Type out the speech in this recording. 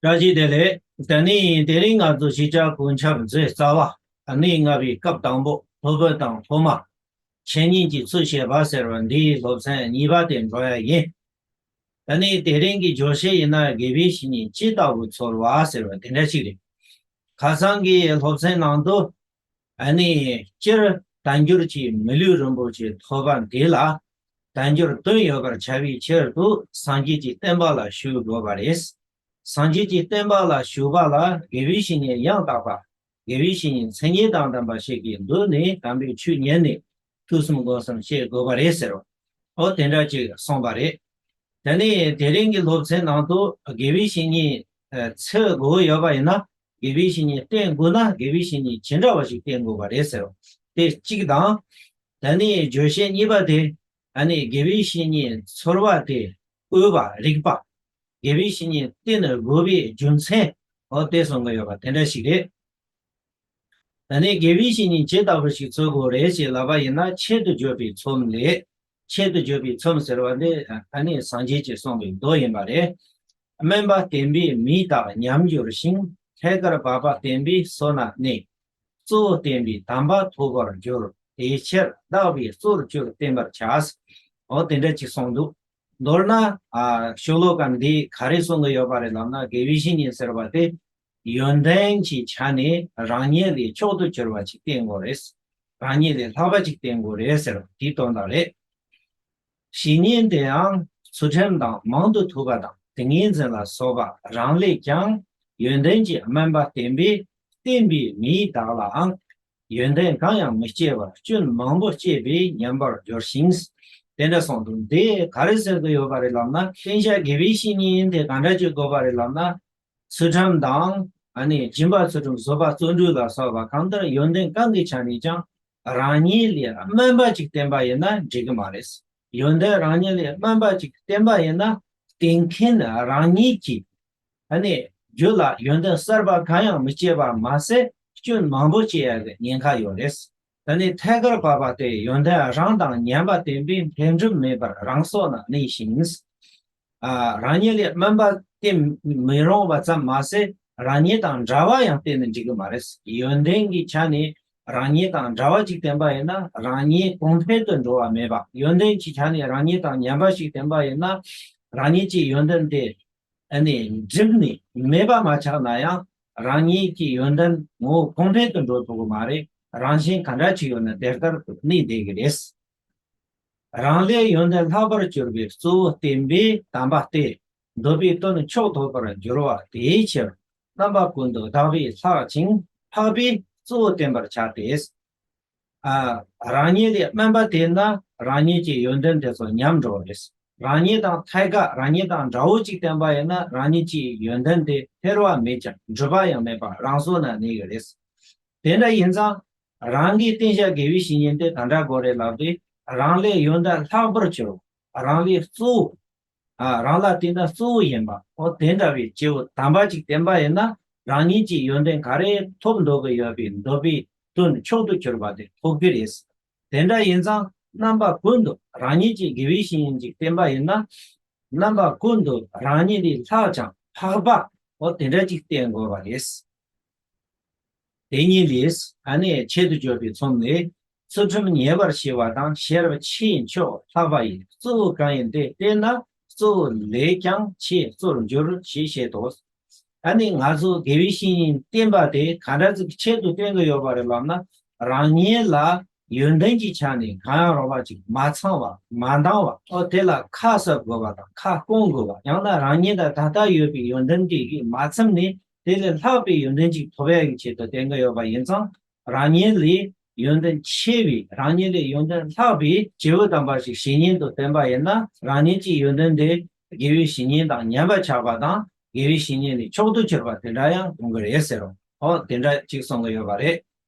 སྒྲ་ཇི་བདེ་ལེགས། ད་ནི་དེ་རིང་ང་ཚོ་གཞིས་ཆགས་དགོན་ཆགས་མཛད་རྩ་བ་ནི་སྔ་བའི་སྐབས་དང་པོ་ལྷོ་བོད་དང་ལྷོ་མ། བྱེས་གཉིས་ཀྱི་ཚུལ་བྱེད་པ་ཟེར་བ་འདིའི་སློབ་ཚན་གཉིས་པ་དེ་འགྲོ་ཡ་ཡིན། ད་ནི་དེ་རིང་གི་སྦྱོར་བྱེད་ཡིན་ན་དགེ་བའི་བཤེས་གཉེན་ཅི་ལྟ་བུ་ཚོར་བ་ཟེར་བ་དེ་འདྲ་ཞིག་རེད། ཁ་སང་གི་སློབ་ཚན་ནང་དུ། ཨ་ནི་སྤྱིར་བསྟན་འགྱུར་གྱི་མི་ལུས་རིན་པོ་ཆེ་ཐོ་པ་འདི་ལ་བསྟན་འགྱུར་དོན་ཡོད་པར་བྱ་བའི་ཕྱིར་དུ་སངས་རྒྱས་ཀྱི་བསྟན་པ་ལ་ཞུགས་དགོས་པ་རེད། སངས་རྒྱས་ཀྱི་བསྟན་པ་ལ་ཞུགས་པ་ལ་དགེ་བའི་བཤེས་གཉེན་ཡང་དག་པ་དགེ་བའི་བཤེས་གཉེན་མཚན་ཉིད་དང་ལྡན་པ་ཞིག་གིས་མདུན་ནས་དམ་པའི་ཆོས་ཉན་ནས་ཐུགས་གསུམ་དགོངས་གསུམ་བཤད་དགོས་པ་རེད་ཟེར་བ་དེ་འདྲ་ཅིག་གསུངས་པ་རེད། དེ་ནས་དེ་རིང་གི་སློབ་ཚན་ནང་དུ་དགེ་བའི་བཤེས་གཉེན་ཚིག་དགུ་ཡོད་པ་ཡིན་ན་དགེ་བའི་བཤེས་གཉེན་བསྟེན་དགོས་ན་དགེ་བའི་བཤེས་གཉེན་ཇི་འདྲ་བ་ཞིག་བསྟེན་དགོས་པ་རེད་ཟེར། དེ་གཅིག་དང། ད་ནི་བརྗོད་བྱའི་གཉིས་པ་དེ། ད་ནི་དགེ་བའི་བཤེས་གཉེན་ཚོར་བ་དེ་དབུལ་བ་རིག་པ། དགེ་བའི་བཤེས་གཉེན་བསྟེན་དགོས་པའི་རྒྱུ་མཚན་འོ་བལྟས་སོང་གི་ཡོད་པ་དེ་འདྲ་ཞིག་རེད། ད་ནི་དགེ་བའི་བཤེས་གཉེན་ཇི་ལྟ་བུ་ཞིག་འཚོལ་དགོས་རེད་ཅེས་ལབ་པ་ཡིན་ན་ཆེད་དུ་བརྗོད་པའི་ཚོམས་ལས་ཆེད་དུ་བརྗོད་པའི་ཚོམས་ཟེར་བ་འདི་ད་ནི་སངས་རྒྱས་ཀྱིས་གསུངས་པའི་མདོ་ཡིན་པ་རེད། སྨན་པ་བསྟེན་པས་མི་དག་ཉམས་འགྱུར་ཞིང་ཐད་ཀར་བབ་པ་བསྟེན་པས་སོ་ན་གནས། གཙོ་བོ་བསྟེན་པས་དམ་པ་ཐོབ་པར་འགྱུར་དེའི་ཕྱིར་བདག་པོས་གཙོར་བསྐྱུར་བསྟེན་པར་བྱ། འོ་དེ་འདྲ་ཅིག་གསུངས་འདུག་མདོར་ན། ཤོ་ལོ་ཀ་འདིས་ག་རེ་གསུང་གི་ཡོད་པ་རེད་ལབ་ན་དགེ་བའི་བཤེས་གཉེན་ཟེར་བ་དེ་ཡོན་ཏན་གྱི་ཆ་ནས་རང་ཉིད་ལས་མཆོག་ཏུ་གྱུར་པ་ཅིག་བསྟེན་དགོས་རེད། རང་ཉིད་ལས་ལྷག་པ་ཅིག་བསྟེན་དགོས་རེད་ཟེར་བ་དེའི་དོན་དག་རེད། བྱས་ཉེས་དེའང་ཚུལ་ཁྲིམས་དང་མང་དུ་ཐུབ་པ་དང་ཏིང་ངེ་འཛིན་ལ་སོགས་པ་རང་ལས་ཀྱང་ཡོན་ཏན་གྱི་དམན་པ་བསྟེན་པས་བསྟེན་པའི་མིའི་བདག་ལའང་ཡོན་ཏན་གང་ཡང་མི་སྐྱེ་བར་སྐྱོན་མང་པོ་སྐྱེས་པའི་ཉམས་པར་འགྱུར་ཞིང། དེ་འདྲ་སོང་དུས་འདི་ག་རེ་ཟེར་དུ་ཡོད་པ་རེད་ལབ་ན་བསྟེན་བྱ་དགེ་བའི་བཤེས་གཉེན་དེ་ག་འདྲ་བྱེད་དགོས་པ་རེད་ལབ་ན་ཚུལ་ཁྲིམས་དང། སྦྱིན་པ་ཚུལ་ཁྲིམས་བཟོད་པ་བརྩོན་འགྲུས་ལ་སོགས་པ་གང་ལྟར་ཡོན་ཏན་གང་གི་ཆ་ནས་ཀྱང་རང་ཉིད་ལས་དམན་པ་ཅིག་བསྟེན་པ་ཡིན་ན་འགྲིག་གི་མ་རེད། ཡོན་ཏན་རང་ཉིད་ལས་དམན་པ་ཅིག་བསྟེན་པ་ཡིན་ན་བསྟེན་མཁན་རང་ཉིད་ཀྱིས། རྒྱུད་ལ་ཡོན་ཏན་གསར་པ་གང་ཡང་མི་སྐྱེས་པར་མ་ཟད་སྐྱོན་མང་པོ་སྐྱེ་ཡག་གི་ཉེན་ཁ་ཡོད་རེད། ད་ནི་ཐད་ཀར་བབས་པ་དེ་ཡོན་ཏན་རང་དང་ཉན་པ་དེ་འདྲའི་འཕེལ་འགྲིབ་མེད་པར་རང་སྲོག་ན་གནས་ཤིང། རང་ཉིད་ལས་དམན་པ་སྟེ་མི་རུང་བ་ཙམ་མ་ཟད་རང་ཉིད་དང་འདྲ་བ་ཡང་བསྟེན་ནས་འགྲིག་གི་མ་རེད། ཡོན་ཏན་གྱི་ཆ་ནས་རང་ཉིད་དང་འདྲ་བ་ཅིག་བསྟེན་པ་ཡིན་ན་རང་ཉིད་གོང་འཕེལ་དུ་འགྲོ་བ་མེད་པ། ཡོན་ཏན་གྱི་ཆ་ནས་རང་ཉིད་དང་ཉན་པ་ཞིག་བསྟེན་པ་ཡིན་ན་རང་ཉིད་ཀྱི་ཡོན་ཏན་དེ་འཕེལ་འགྲིབ་ནི་མེད་པ་མ་ཆགས་ན་ཡང་རང་ཉིད་ཀྱི་ཡོན་ཏན་ངོ་བོ་ཕུང་འདྲེན་དུ་འགྲོ་ཐུབ་ཀྱི་མ་རེད། རང་བཞིན་ག་འདྲ་ཞིག་ཡོད་ན་དེ་ལྟར་དུ་གནས་བསྡད་ཀྱི་རེད། རང་ལས་ཡོན་ཏན་ལྷག་པར་གྱུར་པའི་གཙོ་བོ་བསྟན་པའི་དམ་པ་སྟེ། འདོད་པའི་དོན་མཆོག་ཐོབ་པར་འགྱུར་བ་དེའི་ཕྱིར་རྣམ་པ་ཀུན་ཏུ་དག་པའི་ལྷག་ཅིང་འཕགས་པས་གཙོ་བོ་བསྟེན་པར་བྱ་སྟེ། རང་ཉིད་ལས་དམན་པ་དེས་ན་རང་ཉིད་ཀྱི་ཡོན་ཏན་དེ་ཚོ་ཉམས་འགྲོ་བ་རེད། རང་ཉིད་དང་ཐད་ཀར་རང་ཉིད་དང་འདྲ་བོ་ཅིག་བསྟེན་པ་ཡིན་ན་རང་ཉིད་ཀྱི་ཡོན་ཏན་དེ་འཕེར་བ་མེད་ཀྱང་འགྲུབ་པ་ཡང་མེད་པ་རང་སོ་ན་གནས་ཀྱི་རེད། དེ་འདྲ་ཡིན་ཙང་རང་གིས་བསྟེན་བྱ་དགེ་བའི་བཤེས་གཉེན་དེ་ག་འདྲ་དགོས་རེད་ལབ་སྟེ་རང་ལས་ཡོན་ཏན་ལྷག་པར་གྱུར་བ་རང་ལས་གཙོ་བོ་རང་ལ་དེ་འདྲ་གཙོ་བོ་ཡིན་པ། འོ་དེ་འདྲ་བའི་སྐྱེ་བོ་དམ་པ་ཅིག་བསྟེན་པ་ཡིན་ན་རང་ཉིད་ཀྱི་ཡོན་ཏན་ག་རེ་ཐོབ་འགྲོ་གི་ཡོད་པའི་འདོད་པའི་དོན་མཆོག་ཏུ་གྱུར་པ་དེ་ཐོབ་གི་རེད། དེ་འདྲ་ཡིན་ཙང་རྣམ་པ་ཀུན་ཏུ་རང་ཉིད་ཀྱི་དགེ་བའི་བྱིན་ཅིག་བསྟེན་པ་ཡིན་ན། རྣམ་པ་ཀུན་ཏུ་རང་ཉིད་ལས་ལྷག་ཅིང་འཕགས་པ་འོ་དེ་འདྲ་ཅིག་བསྟེན་དགོས་པ་རེད། དེ་ཉིད་ལས་ད་ནས་ཆེད་དུ་བརྗོད་པའི་ཚོམས་ནི། ཚུལ་ཁྲིམས་ཉེ་བར་བྱེད་པ་དང་ཤེས་རབ་ཕྱིའི་མཆོག་ལྷག་པ་ཡི་གཙོ་བོ་གང་ཡིན་དེ་བསྟེན་ན་གཙོ་བོ་ལས་ཀྱང་ཆེས་གཙོར་འགྱུར་ཞེས་བཤད་དོ། ད་ནི་ང་ཚོ་དགེ་བའི་བཤེས་གཉེན་བསྟེན་པ་དེ་ག་འདྲ་ཙིག་ཆེད་དུ་བསྟེན་དགོས་ཡོད་པ་རེད་ལབ་ན་རང་ཉིད་ལ་ཡོན་ཏན་གྱི་ཆ་ནས་གང་ཡང་རོགས་པ་ཅིག་མ་ཚང་བ་མ་འདང་བ་ཨོ་དེ་ལ་ཁ་གསབ་དགོས་པ་དང་ཁ་སྐོང་དགོས་པ་ཡང་ན་རང་ཉིད་ལ་ད་ལྟ་ཡོད་པའི་ཡོན་ཏན་དེ་གིས་མ་ཚིམ་ནས་དེ་ལས་ལྷག་པའི་ཡོན་ཏན་ཅིག་ཐོབ་ཡ་ཡི་ཆེད་དུ་དེང་གི་ཡོད་པ་ཡིན་ཙང་རང་ཉིད་ལས་ཡོན་ཏན་ཆེ་བའི་རང་ཉིད་ལས་ཡོན་ཏན་ལྷག་པའི་བྱེད་པོ་དམ་པ་ཞིག་བྱེད་སྙིང་དུ་བསྟན་པ་ཡིན་ན་རང་ཉིད་ཀྱི་ཡོན་ཏན་དེ་དགེ་བའི་བྱེད་སྙིང་དང་ཉམས་པར་ཆགས་པ་དང་དགེ་བའི་བྱེད་སྙིང་ལས་མཆོག་ཏུ་གྱུར་པ་དེ་འདྲ་ཡང་གོང་གི་རེད་ཟེར་རོ་དེ་འདྲ་ཅིག་གསུང་གི་ཡོད་པ་རེད།